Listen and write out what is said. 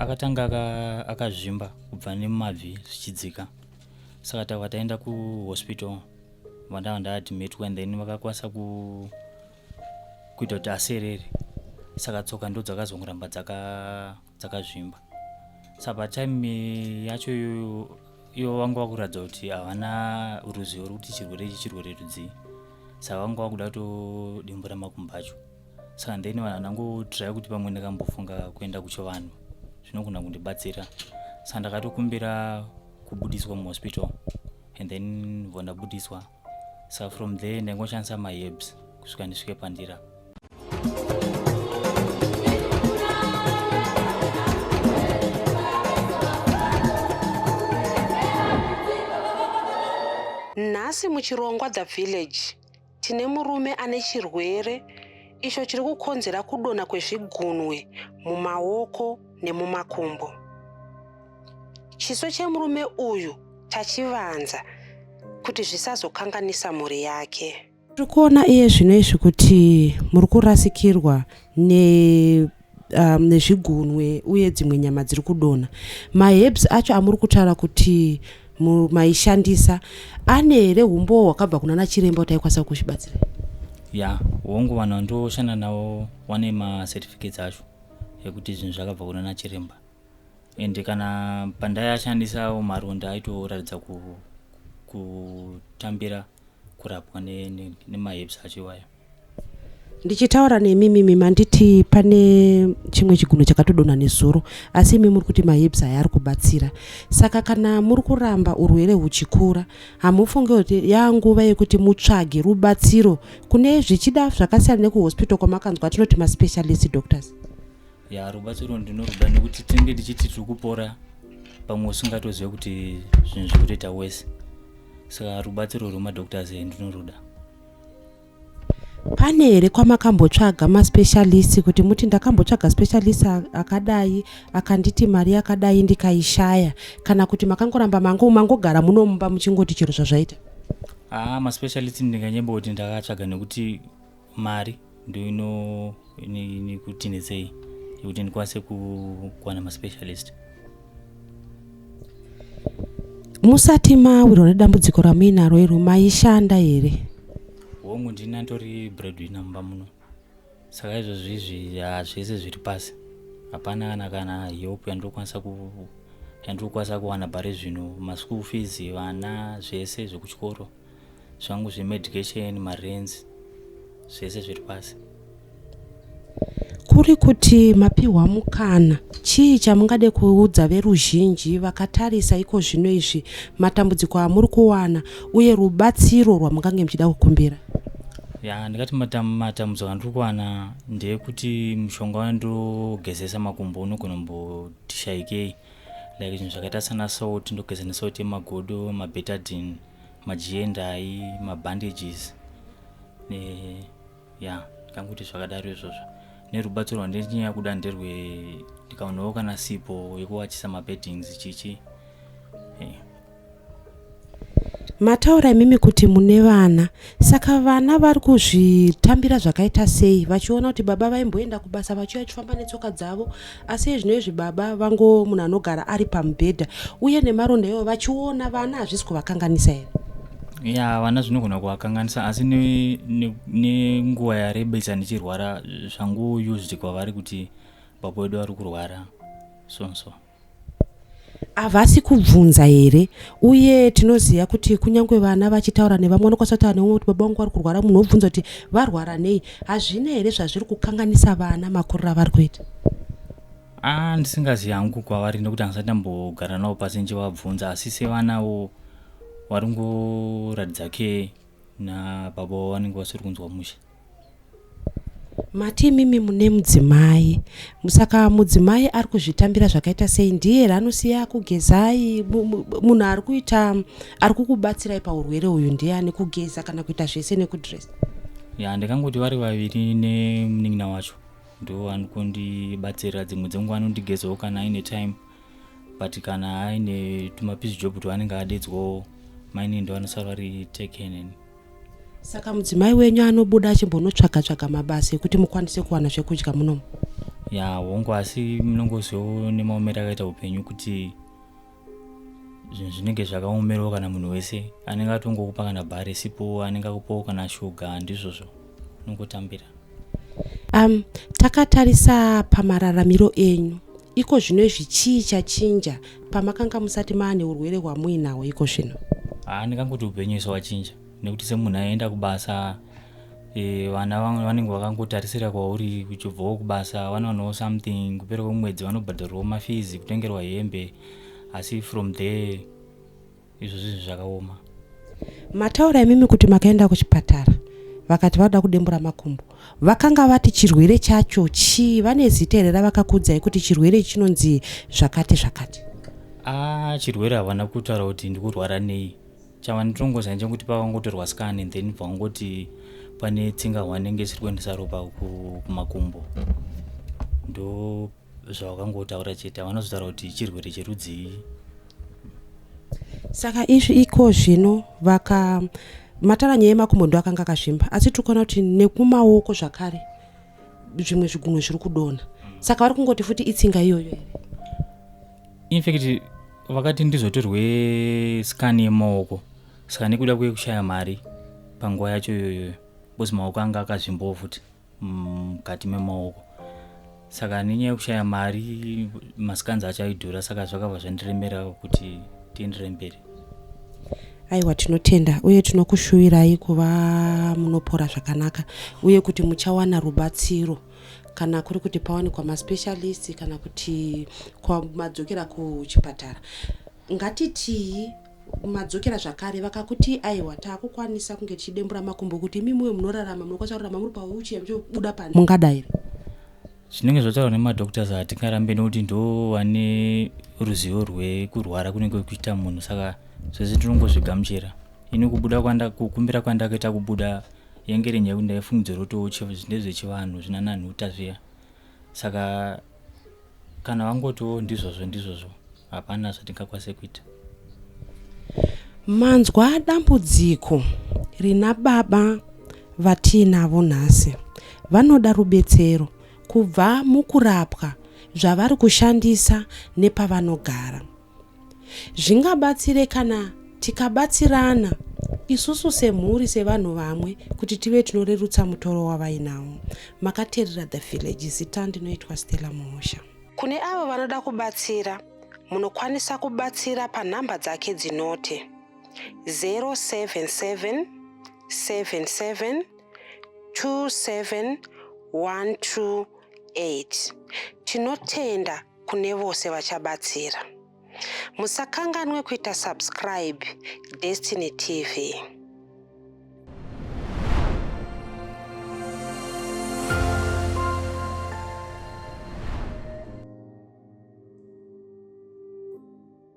Akatanga aka- akazvimba kubva nemumabvi zvichidzika saka takabva taenda kuhospital vandava ndaadmitwa and then vakakwanisa ku kuita kuti aserere saka tsoka ndo dzakazongoramba dzaka dzakazvimba saka patime yacho iyoyo ivo vanga vakuratidza kuti havana ruzivo rwekuti chirwere ichi chirwere rudzii saka vanga vakuda kutodimbura makumbo acho saka then vanhu ndangotirai kuti pamwe ndakambofunga kuenda kuchivanhu zvinogona kundibatsira saka ndakatokumbira kubudiswa muhospital and then bva ndabudiswa saka from there ndaingoshandisa maherbs kusvika ndisvike pandira nhasi muchirongwa the village tine murume ane chirwere icho chiri kukonzera kudonha kwezvigunwe mumaoko nemumakumbo. Chiso chemurume uyu tachivanza kuti zvisazokanganisa mhuri yake. Tiri kuona iye zvino izvi kuti muri kurasikirwa ne um, nezvigunwe uye dzimwe nyama dziri kudonha maherbs acho amuri kutaura kuti maishandisa ane here umbowo hwakabva kuna nachiremba kuti aikwanisa kuzvibatsira ya hongu vanhu vandoshanda navo vane macertificates acho ekuti zvinhu zvakabva kuna nachiremba ende kana pandaiashandisawo maronda aitoratidza kutambira ku kurapwa nemahips acho iwayo ndichitaura nemi mimi manditi pane chimwe chiguno chakatodonha nezuro asi imi muri kuti mahips aya ari kubatsira saka kana muri kuramba urwere huchikura hamufunge kuti yanguva yekuti mutsvage rubatsiro kune zvichida zvakasiyana nekuhospital kwamakanzwa tinoti maspecialist doctors ya rubatsiro ndinoruda nekuti tinenge tichiti tiri kupora pamwe usingatozive kuti zvinhu zviri kutoita wese saka rubatsiro rwemadoctors here ndinoruda pane here kwamakambotsvaga maspecialist kuti muti ndakambotsvaga specialist akadai akanditi mari yakadai ndikaishaya kana kuti makangoramba mango mangogara muno mumba muchingoti chero zvazvaita haa maspecialist ndinganyemba kuti ndakatsvaga nekuti mari ndoinokuti netsei yekuti ndikwanise kuwana maspecialist musati mawirwa nedambudziko ramuinaro iro maishanda here hongu ndini antori breadwinner mumba muno saka izvozvo izvi zvese zviri pasi hapana kana kana help yandinokwanisa yandiri kukwanisa kuwana pari zvino maschool fees vana zvese zvekuchikoro zvangu zvemedication marents zvese zviri pasi kuri kuti mapihwa mukana chii chamungade kuudza veruzhinji vakatarisa iko zvino izvi matambudziko amuri kuwana uye rubatsiro rwamungange muchida kukumbira ya ndikati matambudziko andiri kuwana ndeyekuti mushonga wandogezesa makumbo unogona kumboti shaikei like zvinhu zvakaita sana salt ndogeza nesalt yemagodo mabetadin majiendai mabandages ne ya kanguti zvakadaro izvozvo nerubatso rwandinyaya kuda nderwe ndikaonawo kana sipo yekuwachisa mabeddings chichi hey. Eh. Mataura imimi kuti mune vana saka vana vari kuzvitambira zvakaita sei vachiona kuti baba vaimboenda kubasa vachiuya chifamba netsoka dzavo asi ezvino izvi baba vango munhu anogara ari pamubhedha uye nemaronda iwo vachiona vana hazvisi kuvakanganisa here ya vana zvinogona kuvakanganisa asi nenguva ne, ne yarebesa ndichirwara zvangu used kwavari kuti baba wedu vari kurwara so so havasi kubvunza here uye tinoziva kuti kunyange vana vachitaura nevamwe vanokwanisa kutaura nevamwe kuti baba vangu vari kurwara munhu wobvunza kuti varwara nei hazvina here zvazviri kukanganisa vana makuriro avari kuita a ndisingazi hangu kwavari nekuti handisati ndambogara navo pasi ndichivabvunza asi sevanawo vari ngoratidza ke nababa vanenge vasiri kunzwa mushe Mati imimi mune mudzimai saka mudzimai ari kuzvitambira zvakaita sei ndiye here anosiya kugezai munhu ari kuita ari kukubatsirai paurwere uyu ndiani kugeza kana kuita zvese nekudress ya ndakangoti vari vaviri nemunin'ina wacho ndo anokundibatsirira dzimwe dzenguva anondigezawo kana aine time but kana aine tumapizi job twaanenge adedzwawo maini ndo anosara vari takeneni saka mudzimai wenyu anobuda achimbonotsvaga tsvaga mabasa ekuti mukwanise kuwana zvekudya munomu ya hongu asi munongozivawo nemaomero akaita upenyu kuti zvinhu zvinenge zvakaomerwa kana munhu wese anenge atongokupa kana bhari sipo anenge akupawo kana shuga ndizvozvo unongotambira um, takatarisa pamararamiro enyu Iko zvino izvi chii chachinja pamakanga musati maa neurwere hwamuinahwo iko zvino? Haa ndingangoti upenyu iso wachinja nekuti semunhu aienda kubasa e, vana vamwe vanenge vakangotarisira kwauri uchibvawo kubasa vanowanawo something kupera kwemwedzi vanobhadharwawo mafizi kutengerwa hembe asi from there izvo zvinhu zvakaoma mataura imimi kuti makaenda kuchipatara vakati vada kudembura makumbo vakanga vati chirwere chacho chii vane zita here ravakakuudzai kuti chirwere chinonzi zvakati zvakati ah chirwere havana kutaura kuti ndikurwara nei chavanditongoza njenguti pavangotorwa scan and then vangoti pane tsinga hwanenge isiri kuendesa ropa kumakumbo ndo zvawakangotaura chete havana kuzotaura kuti chirwere cherudzii saka izvi iko zvino vaka matara nyaya yemakumbo ndo akanga akazvimba asi tiri kuona kuti nekumaoko zvakare zvimwe zvigunwe zviri kudona saka vari kungoti futi itsinga iyoyo here infact vakati ndizotorwe scan yemaoko saka nekuda kwekushaya mari panguva yacho iyoyoyo bcause maoko anga akazvimbawo futi mukati memaoko saka nenyaya yekushaya mari masikanzi acho aidhura saka zvakabva zvandiremera kuti tienderei mberi aiwa tinotenda uye tinokushuwirai kuva munopora zvakanaka uye kuti muchawana rubatsiro kana kuri kuti pawanikwa maspecialist kana kuti kwamadzokera kuchipatara ngatitii madzokera zvakare vakakuti aiwa takukwanisa kunge tichidembura makumbo kuti imi muwe munorarama munokwanisa kurarama muri pauchi amuchobuda pano mungadairi zvinenge zvotaurwa nemadoctors hatingarambe nokuti ndo vane ruzivo rwekurwara kunenge kuita munhu saka zvese tinongozvigamuchira ini kubuda kukumbira kwandakaita kubuda yengere nyaya kuti ndaifungidzwa rotowo ndezvechivanhu zvinananhuta zviya saka kana vangotiwo ndizvozvo ndizvozvo hapana zvatingakwanise kuita manzwa dambudziko rina baba vatiinavo nhasi vanoda rubetsero kubva mukurapwa zvavari kushandisa nepavanogara Zvingabatsire kana tikabatsirana isusu semhuri sevanhu vamwe kuti tive tinorerutsa mutoro wavainawo. Makateerera The Village zita ndinoitwa Stella Muhosha. Kune avo vanoda kubatsira munokwanisa kubatsira panhamba dzake dzinoti 077 77 27128 tinotenda kune vose vachabatsira. Musakanganwe kuita subscribe Destiny TV.